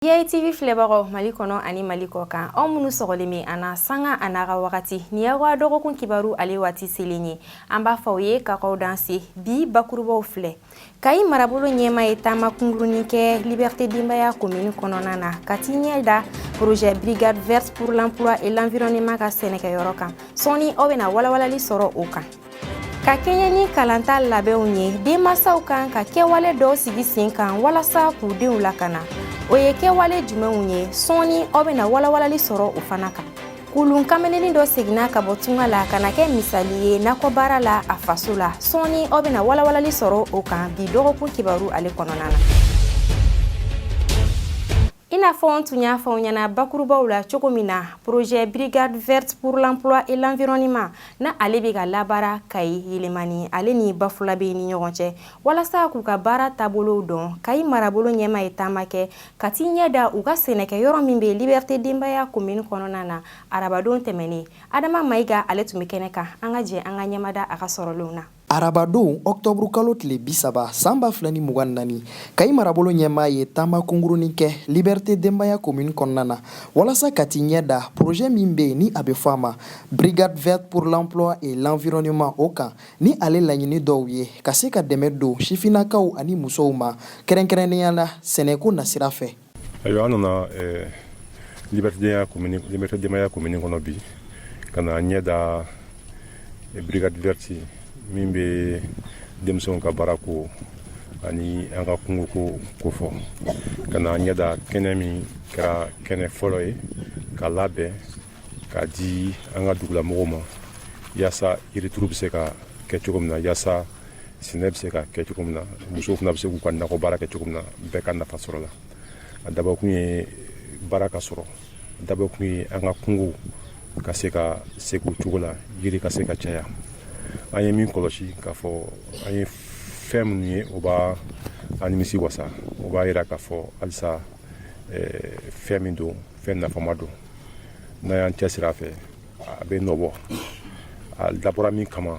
DITV filɛbagaw Mali kɔnɔ ani Mali kɔkan aw minnu sɔgɔlen bɛ an na sanga a n'a ka wagati nin y'aw ka dɔgɔkun kibaru ale waati selen ye an b'a fɔ aw ye ka k'aw danse bi bakurubaw filɛ Kayi marabolo ɲɛmaa ye taama kungurunin kɛ Liberté denbaya commune kɔnɔna na ka t'i ɲɛ da projet Brigade verte pour l'emploi et l'environnement ka sɛnɛkɛyɔrɔ kan sɔɔni aw bɛna walawalali sɔrɔ o kan ka kɛɲɛ ni kalanta labɛnw ye denmansaw kan ka kɛwale dɔw sigi sen kan walasa k'u denw lakana o ye kɛwale jumɛnw ye sɔɔni aw bɛna walawalali sɔrɔ o fana kan Kulun kameleni dɔ seginna ka bɔ tunga la ka na kɛ misali ye nakɔbaara la a faso la sɔɔni aw bɛna walawalali sɔrɔ o kan bi dɔgɔkun kibaru ale kɔnɔna na I n'a fɔ n tun y'a fɔ ɲɛna bakurubaw la cogo min na projet brigade verte pour l'emploi et l'environnement na ale bɛ ka labaara Kayi Yelemani ale ni Bafulabɛ ni ɲɔgɔn cɛ walasa k'u ka baara taabolow dɔn Kayi marabolo ɲɛmaa ye taama kɛ ka t'i ɲɛ da u ka sɛnɛkɛyɔrɔ min bɛ Liberté denbaya commune kɔnɔna na arabadon tɛmɛnen Adama Mayiga ale tun bɛ kɛnɛ kan an ka jɛ an ka ɲɛmada a ka sɔrɔlenw na Arabadon octobre kalo tile bi saba san ba fila ni mugan naani Kayi marabolo ɲɛmaa ye taama kungurunin kɛ Liberté denbaya commune kɔnɔna na walasa ka t'i ɲɛ da projet min bɛ yen ni a bɛ fɔ a ma brigade verte pour l'emploi et l'environnement o kan ni ale laɲini dɔw ye ka se ka dɛmɛ don sifinnakaw ani musow ma kɛrɛnkɛrɛnnenya la sɛnɛko nasira fɛ ayiwa an nana eh, Liberté denbaya komini kɔnɔ bi ka na ɲɛ da eh, brigade verte min bɛ denmisɛnw ka baara ko ani an ka kungo ko kofɔ ka na ɲɛ da kɛnɛ min kɛra kɛnɛ fɔlɔ ye ka labɛn ka di an ka dugulamɔgɔw ma yaasa yirituru bɛ se ka kɛ cogo min na yaasa sɛnɛ bɛ se ka kɛ cogo min na musow fana bɛ se k'u ka nakɔ baara kɛ cogo min na bɛɛ ka nafa sɔrɔ a la a dabɔkun ye baara ka sɔrɔ a dabɔkun ye an ka kungow ka se ka segin u cogo la yiri ka se ka caya an ye min kɔlɔsi k'a fɔ an ye fɛn minnu ye o b'an nimisi wasa o b'a yira k'a fɔ halisa eh, fɛn min don fɛn nafama don n'an y'an cɛsiri a fɛ a bɛ nɔbɔ a dabɔra min kama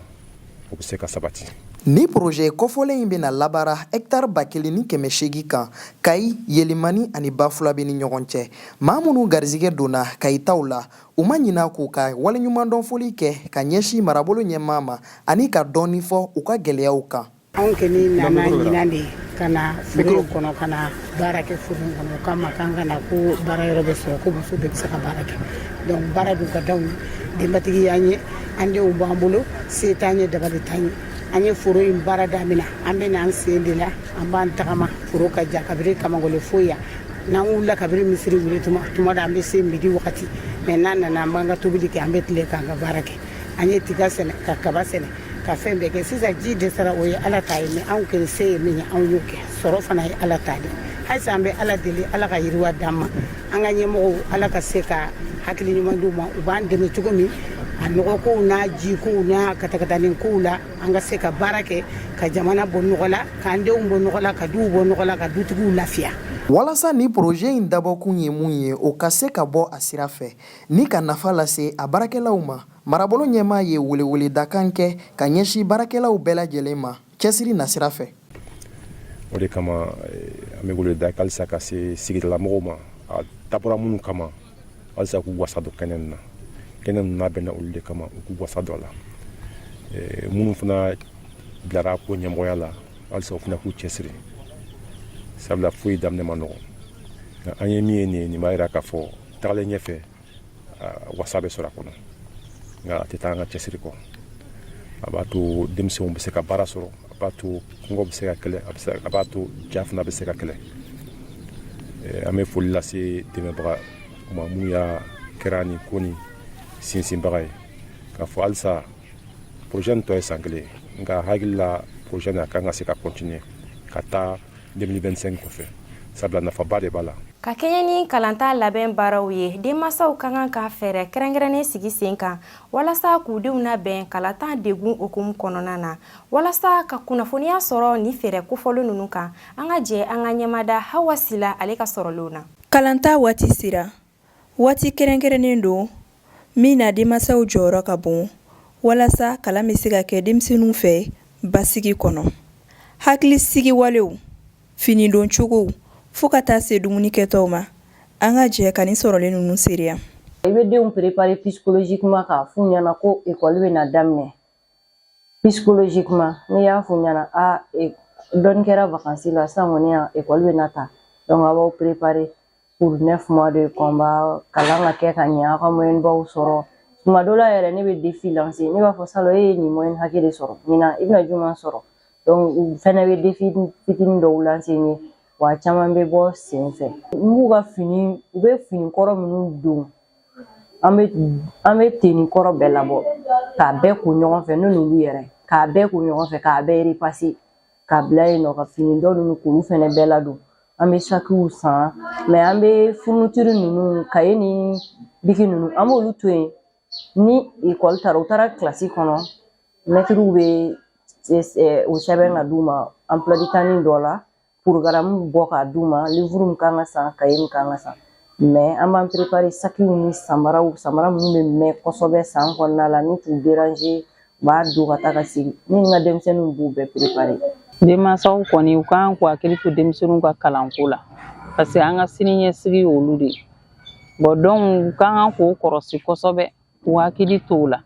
o bɛ se ka sabati ni projet kɔfɔlen in bɛna labaara hɛkitari ba kelen ni kɛmɛ seegin kan Kayi Yelemani ani Bafulabɛ ni ɲɔgɔn cɛ maa minnu garizigɛ donna Kayi taw la u ma ɲina k'u ka waleɲumandɔnfoli kɛ ka ɲɛsin marabolo ɲɛmaa ma ani ka dɔɔni fɔ u ka gɛlɛyaw kan anw kɔni nana ɲinan de ka na foro kɔnɔ ka na baara kɛ foro kɔnɔ o kama k'an ka na ko baara yɔrɔ bɛ sɔrɔ ko muso bɛɛ bɛ se ka baara kɛ donc baara dun ka d'anw ye denbatigi y'an ye an denw b'an bolo se t'an ye dabali t'an ye an ye foro in baara damina an bɛ n'an sen de la an b'an tagama foro ka jan kabiri kamagole fo yan n'an wulila kabiri misiri wuli tuma tuma da an bɛ se midi wagati mais n'an nana an b'an ka tobili kɛ an bɛ tile k'an ka baara kɛ an ye tiga sɛnɛ ka kaba sɛnɛ ka fɛn bɛɛ kɛ sisan ji dɛsɛra o ye ala ta ye mais anw kɔni se ye min ye anw y'o kɛ sɔrɔ fana ye ala ta de halisa an bɛ ala deli ala ka yiriwa d'an ma an ka ɲɛmɔgɔw ala ka se ka hakili ɲuman d'u ma u b'an dɛmɛ cogo min a nɔgɔkow n'a jikow n'a katakatanin kow la an ka se ka baara kɛ ka jamana bɔ nɔgɔ la k'an denw bɔ nɔgɔ la ka duw bɔ nɔgɔ la ka dutigiw lafiya walasa ni projet in dabɔkun ye mun ye o ka se ka bɔ a sira fɛ ni ka nafa lase a baarakɛlaw ma marabolo ɲɛmaa ye weleweledakan kɛ ka ɲɛsin baarakɛlaw bɛɛ lajɛlen ma cɛsiri nasira fɛ o de kama eh, an bɛ weleweleda halisa ka se sigidalamɔgɔw ma a dabɔra minnu kama halisa k'u wasa don kɛnɛ nin na kɛnɛ ninnu labɛnna olu de kama u k'u wasa don a la eh, minnu fana bilara ko ɲɛmɔgɔya la halisa o fana k'u cɛsiri sabula foyi daminɛ man nɔgɔn nka an ye min ye nin ye nin b'a jira k'a fɔ tagalen ɲɛfɛ wasa bɛ sɔrɔ a kɔnɔ nka a tɛ taa an ka cɛsiri kɔ a b'a to denmisɛnw bɛ se ka baara sɔrɔ a b'a to kɔngɔ bɛ se ka kɛlɛ a b'a to ja fana bɛ se ka kɛlɛ an bɛ foli lase dɛmɛbagaw ma minnu y'a kɛra nin ko nin sinsinbaga ye k'a fɔ halisa projet nin tɔ ye san kelen nka hakili la projet nin a kan ka se ka continuer ka taa 2025 kɔfɛ sabula nafaba de b'a la ka kɛɲɛ ni kalanta labɛn baaraw ye denmansaw ka kan ka fɛɛrɛ kɛrɛnkɛrɛnnen sigi sen kan walasa k'u denw labɛn kalanta degun hukumu kɔnɔna na walasa ka kunnafoniya sɔrɔ nin fɛɛrɛ kofɔlen ninnu kan an ka jɛ an ka ɲɛmada hawa sila ale ka sɔrɔlenw na kalanta waati sera Waati kɛrɛnkɛrɛnnen don min na denmansaw jɔyɔrɔ ka bon walasa kalan bɛ se ka kɛ denmisɛnninw fɛ basigi kɔnɔ. Hakili sigi walew, fini don cogow fo ka taa se dumuni kɛtaw ma, an ka jɛ ka nin sɔrɔlen ninnu seereya. I bɛ denw préparer psychologiquement k'a f'u ɲɛna ko école bɛ na daminɛ psychologiquement n'i y'a f'u ɲɛna a dɔɔni kɛra vacances la sisan kɔni école bɛ na ta donc a b'aw préparer pour neuf mois de combat kalan ka kɛ ka ɲɛ aw ka moyɛnbaw sɔrɔ tuma dɔ la yɛrɛ ne bɛ defi lanse ne b'a fɔ salon e ye nin moyɛn hakɛ de sɔrɔ ɲinan i bɛna jumɛn sɔrɔ donc u fɛnɛ bɛ defi fitinin dɔw lanse n ye wa caman bɛ bɔ sen fɛ n b'u ka fini u bɛ fini kɔrɔ minnu don an bɛ an bɛ teni kɔrɔ bɛɛ labɔ k'a bɛɛ ko ɲɔgɔn fɛ ne n'olu yɛrɛ k'a bɛɛ ko ɲɔgɔn fɛ k'a bɛɛ repase k'a bila yen n'u ka fini dɔ ninnu k'olu fɛnɛ bɛɛ ladon an bɛ sakiw san mɛ an bɛ furunutiri ninnu kaye ni biki ninnu an b'olu to yen ni ekɔli taara u taara kilasi kɔnɔ mɛtiriw bɛ o sɛbɛn ka d'u ma emploi du temps dɔ la porogaramu bɔ k'a d'u ma livuru min kan ka san kaye min kan ka san mɛ an b'an perepare sakiw ni samaraw samara minnu bɛ mɛn kosɛbɛ san kɔnɔna la ni t'u deranze u b'a don ka taa ka segin ne ni n ka denmisɛnninw b'u bɛɛ perepare denmansaw kɔni u kan k'u hakili to denmisɛnninw ka kalanko la parce que an ka siniɲɛsigi y'olu de ye bon donc u ka kan k'u kɔrɔsi kosɛbɛ k'u hakili to u la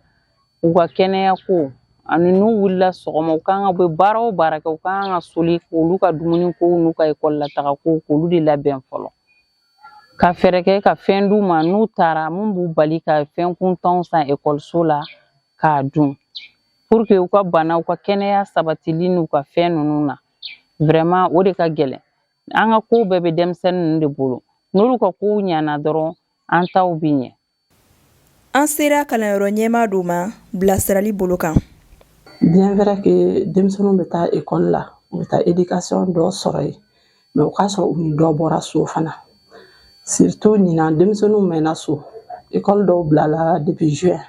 u ka kɛnɛya ko ani n'u wulila sɔgɔma u kan ka bɛ baara o baara kɛ u ka kan ka soli k'olu ka dumuni kow n'u ka ekɔli la taga ko k'olu de labɛn fɔlɔ ka fɛɛrɛ kɛ ka fɛn d'u ma n'u taara min b'u bali ka fɛn kuntanw san ekɔliso la k'a dun pour que u ka bana u ka kɛnɛya sabatili n'u ka fɛn ninnu na vraiment o de ka gɛlɛn an ka kow bɛɛ bɛ denmisɛnnin ninnu de bolo n'olu ka kow ɲana dɔrɔn an taw bi ɲɛ an sera kalanyɔrɔ ɲɛmaa dɔ ma bilasirali bolo kan bien vrai que denmisɛnninw bɛ taa ekɔli la u bɛ taa éducation dɔ sɔrɔ yen mɛ o k'a sɔrɔ u ni dɔ bɔra so fana surtout ɲinan denmisɛnninw mɛnna so ekɔli dɔw bilala depuis juin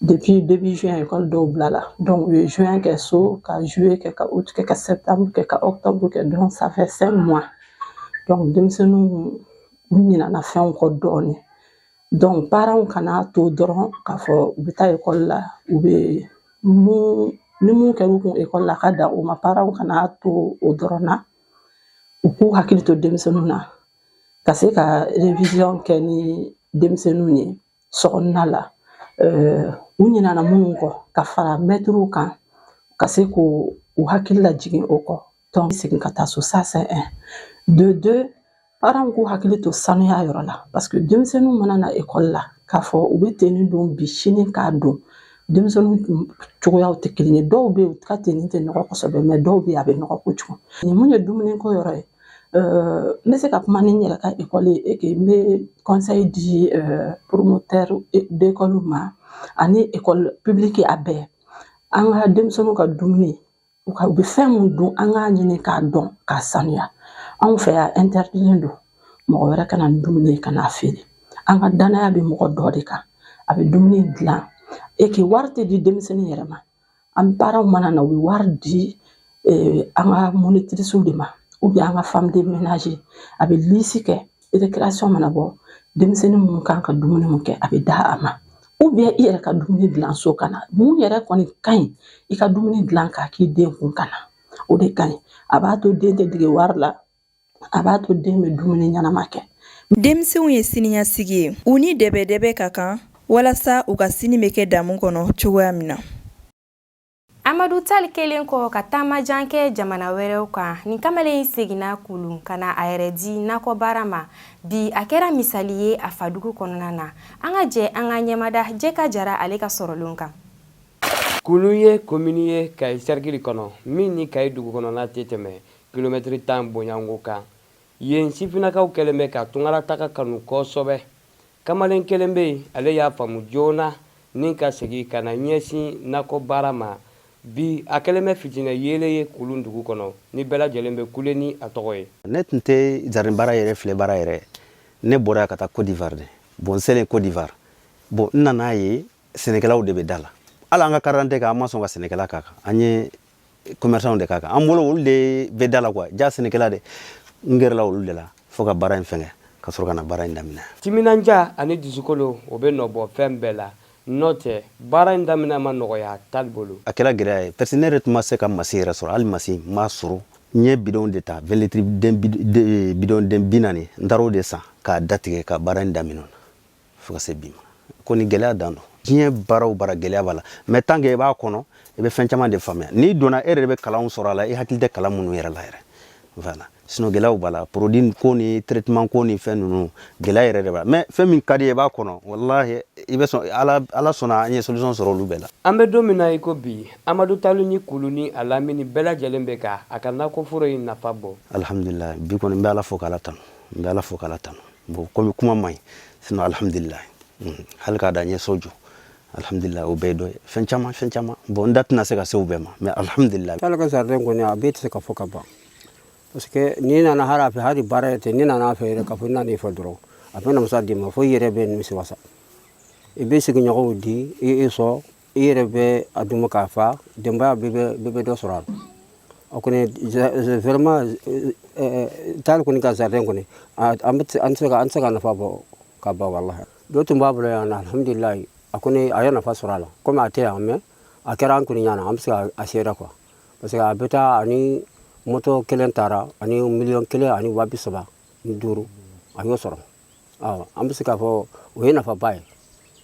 depuis début juin ekɔli dɔw bilala donc u ye juin kɛ so ka juillet kɛ ka août kɛ ka septembre kɛ ka octobre kɛ donc ça fait cinq mois donc denmisɛnninw u ɲinana fɛnw kɔ dɔɔnin Donc parents kana to dɔrɔn k'a fɔ u bɛ taa ekɔli la u bɛ mun ni mun kɛra u kun ekɔli la ka dan o ma parents kana to o dɔrɔn na u k'u hakili to denmisɛnninw na ka se ka revision kɛ ni denmisɛnninw ye sokɔnɔna la euh, u ɲinana minnu kɔ ka fara mɛtiriw kan ka se k'u u hakili lajigin o kɔ tɔn segin ka taa so ça c'est un de deux Paranw k'u hakili to sanuya yɔrɔ la parce que denmisɛnninw mana na ekɔli la k'a fɔ u bɛ teni don bi sini k'a don denmisɛnninw cogoyaw tɛ kelen ye dɔw bɛ yen u ka teni tɛ nɔgɔ kosɛbɛ mɛ dɔw bɛ yen a bɛ nɔgɔ kojugu ni min ye dumuni ko yɔrɔ ye n bɛ se ka kuma ni n yɛrɛ ka ekɔli ye et que n bɛ conseil di promoteurs d'école ma ani ekɔli pibiliki a bɛɛ an ka denmisɛnninw ka dumuni u ka u bɛ fɛn mun dun an k'a ɲini k'a dɔn k'a sanuya anw fɛ yan interdilen don mɔgɔ wɛrɛ kana ni dumuni ye ka n'a feere an ka danaya bɛ mɔgɔ dɔ de kan a bɛ dumuni dilan et que wari tɛ di denmisɛnnin yɛrɛ ma an parentw mana na u bɛ wari di eh, an ka monitirisiw de ma ou bien an ka femme de ménage a bɛ liste kɛ récréation mana bɔ denmisɛnnin minnu kan ka dumuni mun kɛ a bɛ d'a ma ou bien i yɛrɛ ka dumuni dilan so ka na mun yɛrɛ kɔni ka ɲi i ka dumuni dilan k'a k'i den kun ka na o de ka ɲi a b'a to den tɛ dege wari la a b'a to den bɛ dumuni ɲɛnama kɛ denmisɛnw ye siniɲasigi ye u ni dɛbɛdɛbɛ ka kan walasa u ka sini bɛ kɛ damu kɔnɔ cogoya min na Amadu Tali kɛlen kɔ ka taama jan kɛ jamana wɛrɛw kan nin kamalen in seginna kulun ka na a yɛrɛ di nakɔbaara ma bi a kɛra misali ye a fadugu kɔnɔna na an ka jɛ an ka ɲɛmada jɛka jara ale ka sɔrɔlenw kan kulun ye komini ye kayi sɛrikili kɔnɔ min ni kayi dugukɔnɔna tɛ tɛmɛ kilomɛtiri tan bɔɲɔnko kan yen sifinnakaw kɛlen bɛ ka tunkarataga kanu kosɛbɛ kamalen kelen bɛ yen ale y'a faamu joona ni ka segin ka na ɲɛsin nakɔ baara ma bi a kɛlen bɛ fitinɛ yeelen ye kulun dugu kɔnɔ ni bɛɛ lajɛlen bɛ kule ni a tɔgɔ ye ne tun tɛ jardin baara yɛrɛ filɛ baara yɛrɛ ne bɔra yan ka taa Côte d'Ivoire de bon n selen Côte d'Ivoire bon n nan'a ye sɛnɛkɛlaw de bɛ da la hali an ka karidante kan an ma sɔn ka sɛnɛkɛla k'a kan an ye commerçant de k'a kan an bolo olu de bɛ da la quoi jaa sɛnɛkɛla de n gɛrɛla olu de la fo ka baara in fɛngɛ ka sɔrɔ ka na baara in daminɛ timinanja ani dusukolo o bɛ nɔbɔ fɛn bɛɛ la n'o tɛ baara in daminɛ ma nɔgɔya tali bolo a kɛra gɛlɛya ye parce que ne yɛrɛ tun ma se ka masin yɛrɛ sɔrɔ hali masin n m'a sɔrɔ n ye bidɔn de ta vingt litres bidɔn den bi naani n taara o de san k'a datigɛ ka baara in daminɛ fo ka se bi ma kɔni gɛlɛya dan don diɲɛ baara o baara gɛlɛya b'a la mais tant que i b'a kɔnɔ i bɛ fɛn caman de faamuya n'i donna e yɛrɛ de bɛ kalanw sɔrɔ a la i hakili tɛ kalan minnu yɛrɛ la yɛrɛ voilà sinon gɛlɛyaw b'a la produit ko ni traitement ko ni fɛn ninnu gɛlɛya yɛrɛ de b'a la mais fɛn min ka di ye i b'a kɔnɔ walahi i bɛ sɔn ala ala sɔnna an ye solution sɔrɔ olu bɛɛ la an bɛ don min na i ko bi amadu talu ni kulun ni a lamini bɛɛ lajɛlen bɛ ka a ka nakɔforo in nafa bɔ alhamdulilayi bi kɔni n bɛ ala fo k'ala tanu n bɛ ala fo k'ala tanu bon comme kuma man ɲi sinon alhamdulila mhm. hali k'a da n ye so jɔ alhamdulila o bɛɛ dɔ ye fɛn caman fɛn caman bon n da tɛna se ka se o bɛɛ ma mais alhamdulila talu ka jardin kɔni a bɛɛ tɛ se ka fɔ ka ban parce que n'i nana hali a fɛ hali baara yɛrɛ tɛ n'i nana a fɛ yɛrɛ k'a fɔ i nan'a fo dɔrɔn a bɛ namasa d'i ma fo i yɛrɛ bɛ nimisi wasa i bɛ sigiɲɔgɔnw di i sɔn i yɛrɛ bɛ a dun k'a fa denbaya bɛɛ bɛ dɔ sɔrɔ a la o kɔni vraiment tali kɔni ka jardin kɔni an tɛ se ka nafa bɔ ka ban wallahi dɔ tun b'a bolo yan alhamdulilayi a kɔni a ye nafa sɔrɔ a la kɔmi a tɛ yan mais a kɛra an kɔni ɲɛna an bɛ se ka seere quoi parce que a bɛ taa ani moto kelen taara ani miliyɔn kelen ani wa bi saba ni duuru a y'o sɔrɔ awa an bɛ se k'a fɔ o ye nafaba ye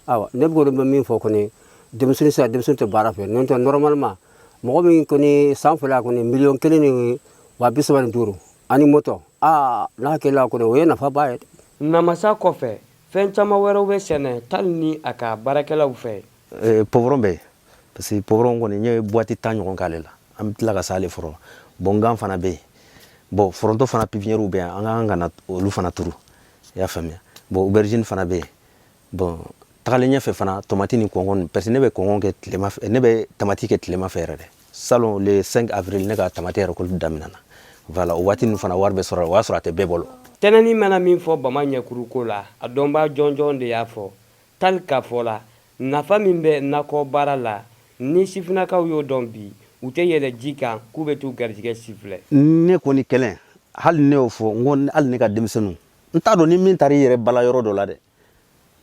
awa ne bɛ kɔni bɛ min fɔ kɔni denmisɛnnin sera denmisɛnnin tɛ baara fɛ n'o tɛ normalement mɔgɔ min kɔni san fila kɔni miliyɔn kelen ni wa bi saba ni duuru ani moto aa n'a kɛla kɔni o ye nafaba ye namasa kɔfɛ fɛn caman wɛrɛw bɛ sɛnɛ tali ni a ka baarakɛlaw fɛ Eh, poivron bɛ yen parce que poivron kɔni n ye buwati tan ɲɔgɔn k'ale la an bɛ tila ka s'ale fɔlɔ bon gan fana bɛ yen bon foronto fana pipiniyɛriw bɛ yan an ka kan ka na olu fana turu i y'a faamuya bon oberizini fana bɛ yen bon tagalen ɲɛfɛ fana tomati ni kɔngɔn parce que ne bɛ kɔngɔn kɛ tilema fɛ ne bɛ tamati kɛ tilema fɛ yɛrɛ dɛ salon le 5 avril ne ka tamati récolte daminɛna voilà o waati ninnu fana wari bɛ sɔrɔ o y'a sɔrɔ a tɛ bɛɛ bolo tinɛni mana min fɔ bama ɲɛkuru ko la a dɔnbaa jɔnjɔn de y'a fɔ Tali ka fɔ la, nafa min bɛ nakɔ baara la, ni sifinnakaw y'o dɔn bi, u tɛ yɛlɛ ji kan k'u bɛ t'u garijigɛ sifilɛ. Ne kɔni kɛlen, hali ne y'o fɔ, n ko hali ne ka denmisɛnniw, n t'a dɔn ni min taara i yɛrɛ bala yɔrɔ dɔ la dɛ,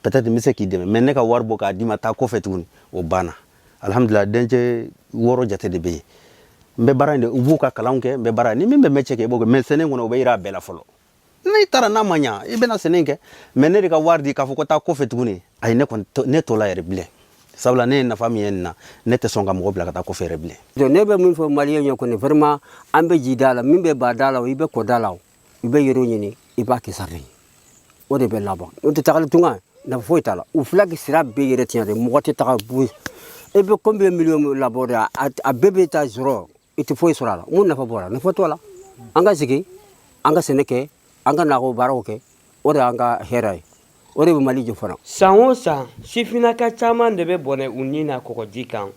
peut-être n bɛ se k'i dɛmɛ, mais ne ka wari bɔ k'a d'i ma taa kɔfɛ tuguni, o banna. Alhamdulilayi, dencɛ wɔɔrɔ jate de bɛ yen. N bɛ baara in de, u b'u ka kalanw kɛ, n bɛ baara, ni min bɛ mɛtiye kɛ, i b'o kɛ, mais sɛnɛ in kɔni, o bɛ jira a bɛɛ la fɔlɔ. n'i taara n'a ma ɲa i bɛna sɛnɛ kɛ mais ne de ka wari di k'a fɔ ko taa kɔfɛ tuguni ayi ne kɔni ne t'o la yɛrɛ bilen sabula ne ye nafa min ye nin na ne tɛ sɔn ka mɔgɔ bila ka taa kɔfɛ yɛrɛ bilen donc ne bɛ min fɔ maliyɛn ye kɔni vraiment an bɛ ji da la min bɛ ba da la o i bɛ kɔ da la o i bɛ yɔrɔ ɲini i b'a kɛ jardin o de bɛ laban o tɛ tagali tunga nafa foyi t'a la u filɛ ka sira bɛɛ yɛrɛ tiɲɛ de mɔgɔ tɛ taga fu e bɛ combien million labɔ de a bɛɛ bɛ taa zéro i tɛ foyi sɔrɔ a la mun nafa b'o la nafa t'o la an ka sigi an ka sɛnɛ kɛ an ka nakɔ baaraw kɛ o de y'an ka hɛrɛ ye o de bɛ mali jɔ fana san o san sifinnaka caman de bɛ bɔnɛ u ni na kɔgɔji kan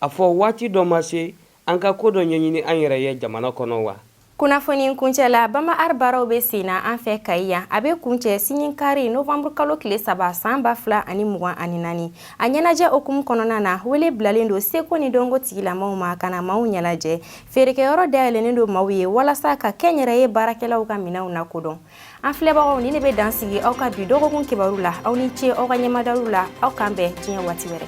a fɔ waati dɔ ma se an ka ko dɔ ɲɛɲini an yɛrɛ ye jamana kɔnɔ wa kunnafoni kuncɛ la bama art baaraw bɛ sen na an fɛ kayi yan a bɛ kuncɛ sini kari novembre kalo tile saba san ba fila ani mugan ani naani a ɲɛnajɛ hukumu kɔnɔna na wele bilalen don seko ni dɔnko tigilamaaw ma ka na maaw ɲɛnajɛ feerekɛyɔrɔ dayɛlɛnnen don maaw ye walasa ka kɛnyɛrɛye baarakɛlaw ka minɛnw lakodɔn an filɛbagaw nin de bɛ dan sigi aw ka bi dɔgɔkun kibaru la aw ni ce aw ka ɲɛmadaw la aw k'an bɛn diɲɛ waati wɛrɛ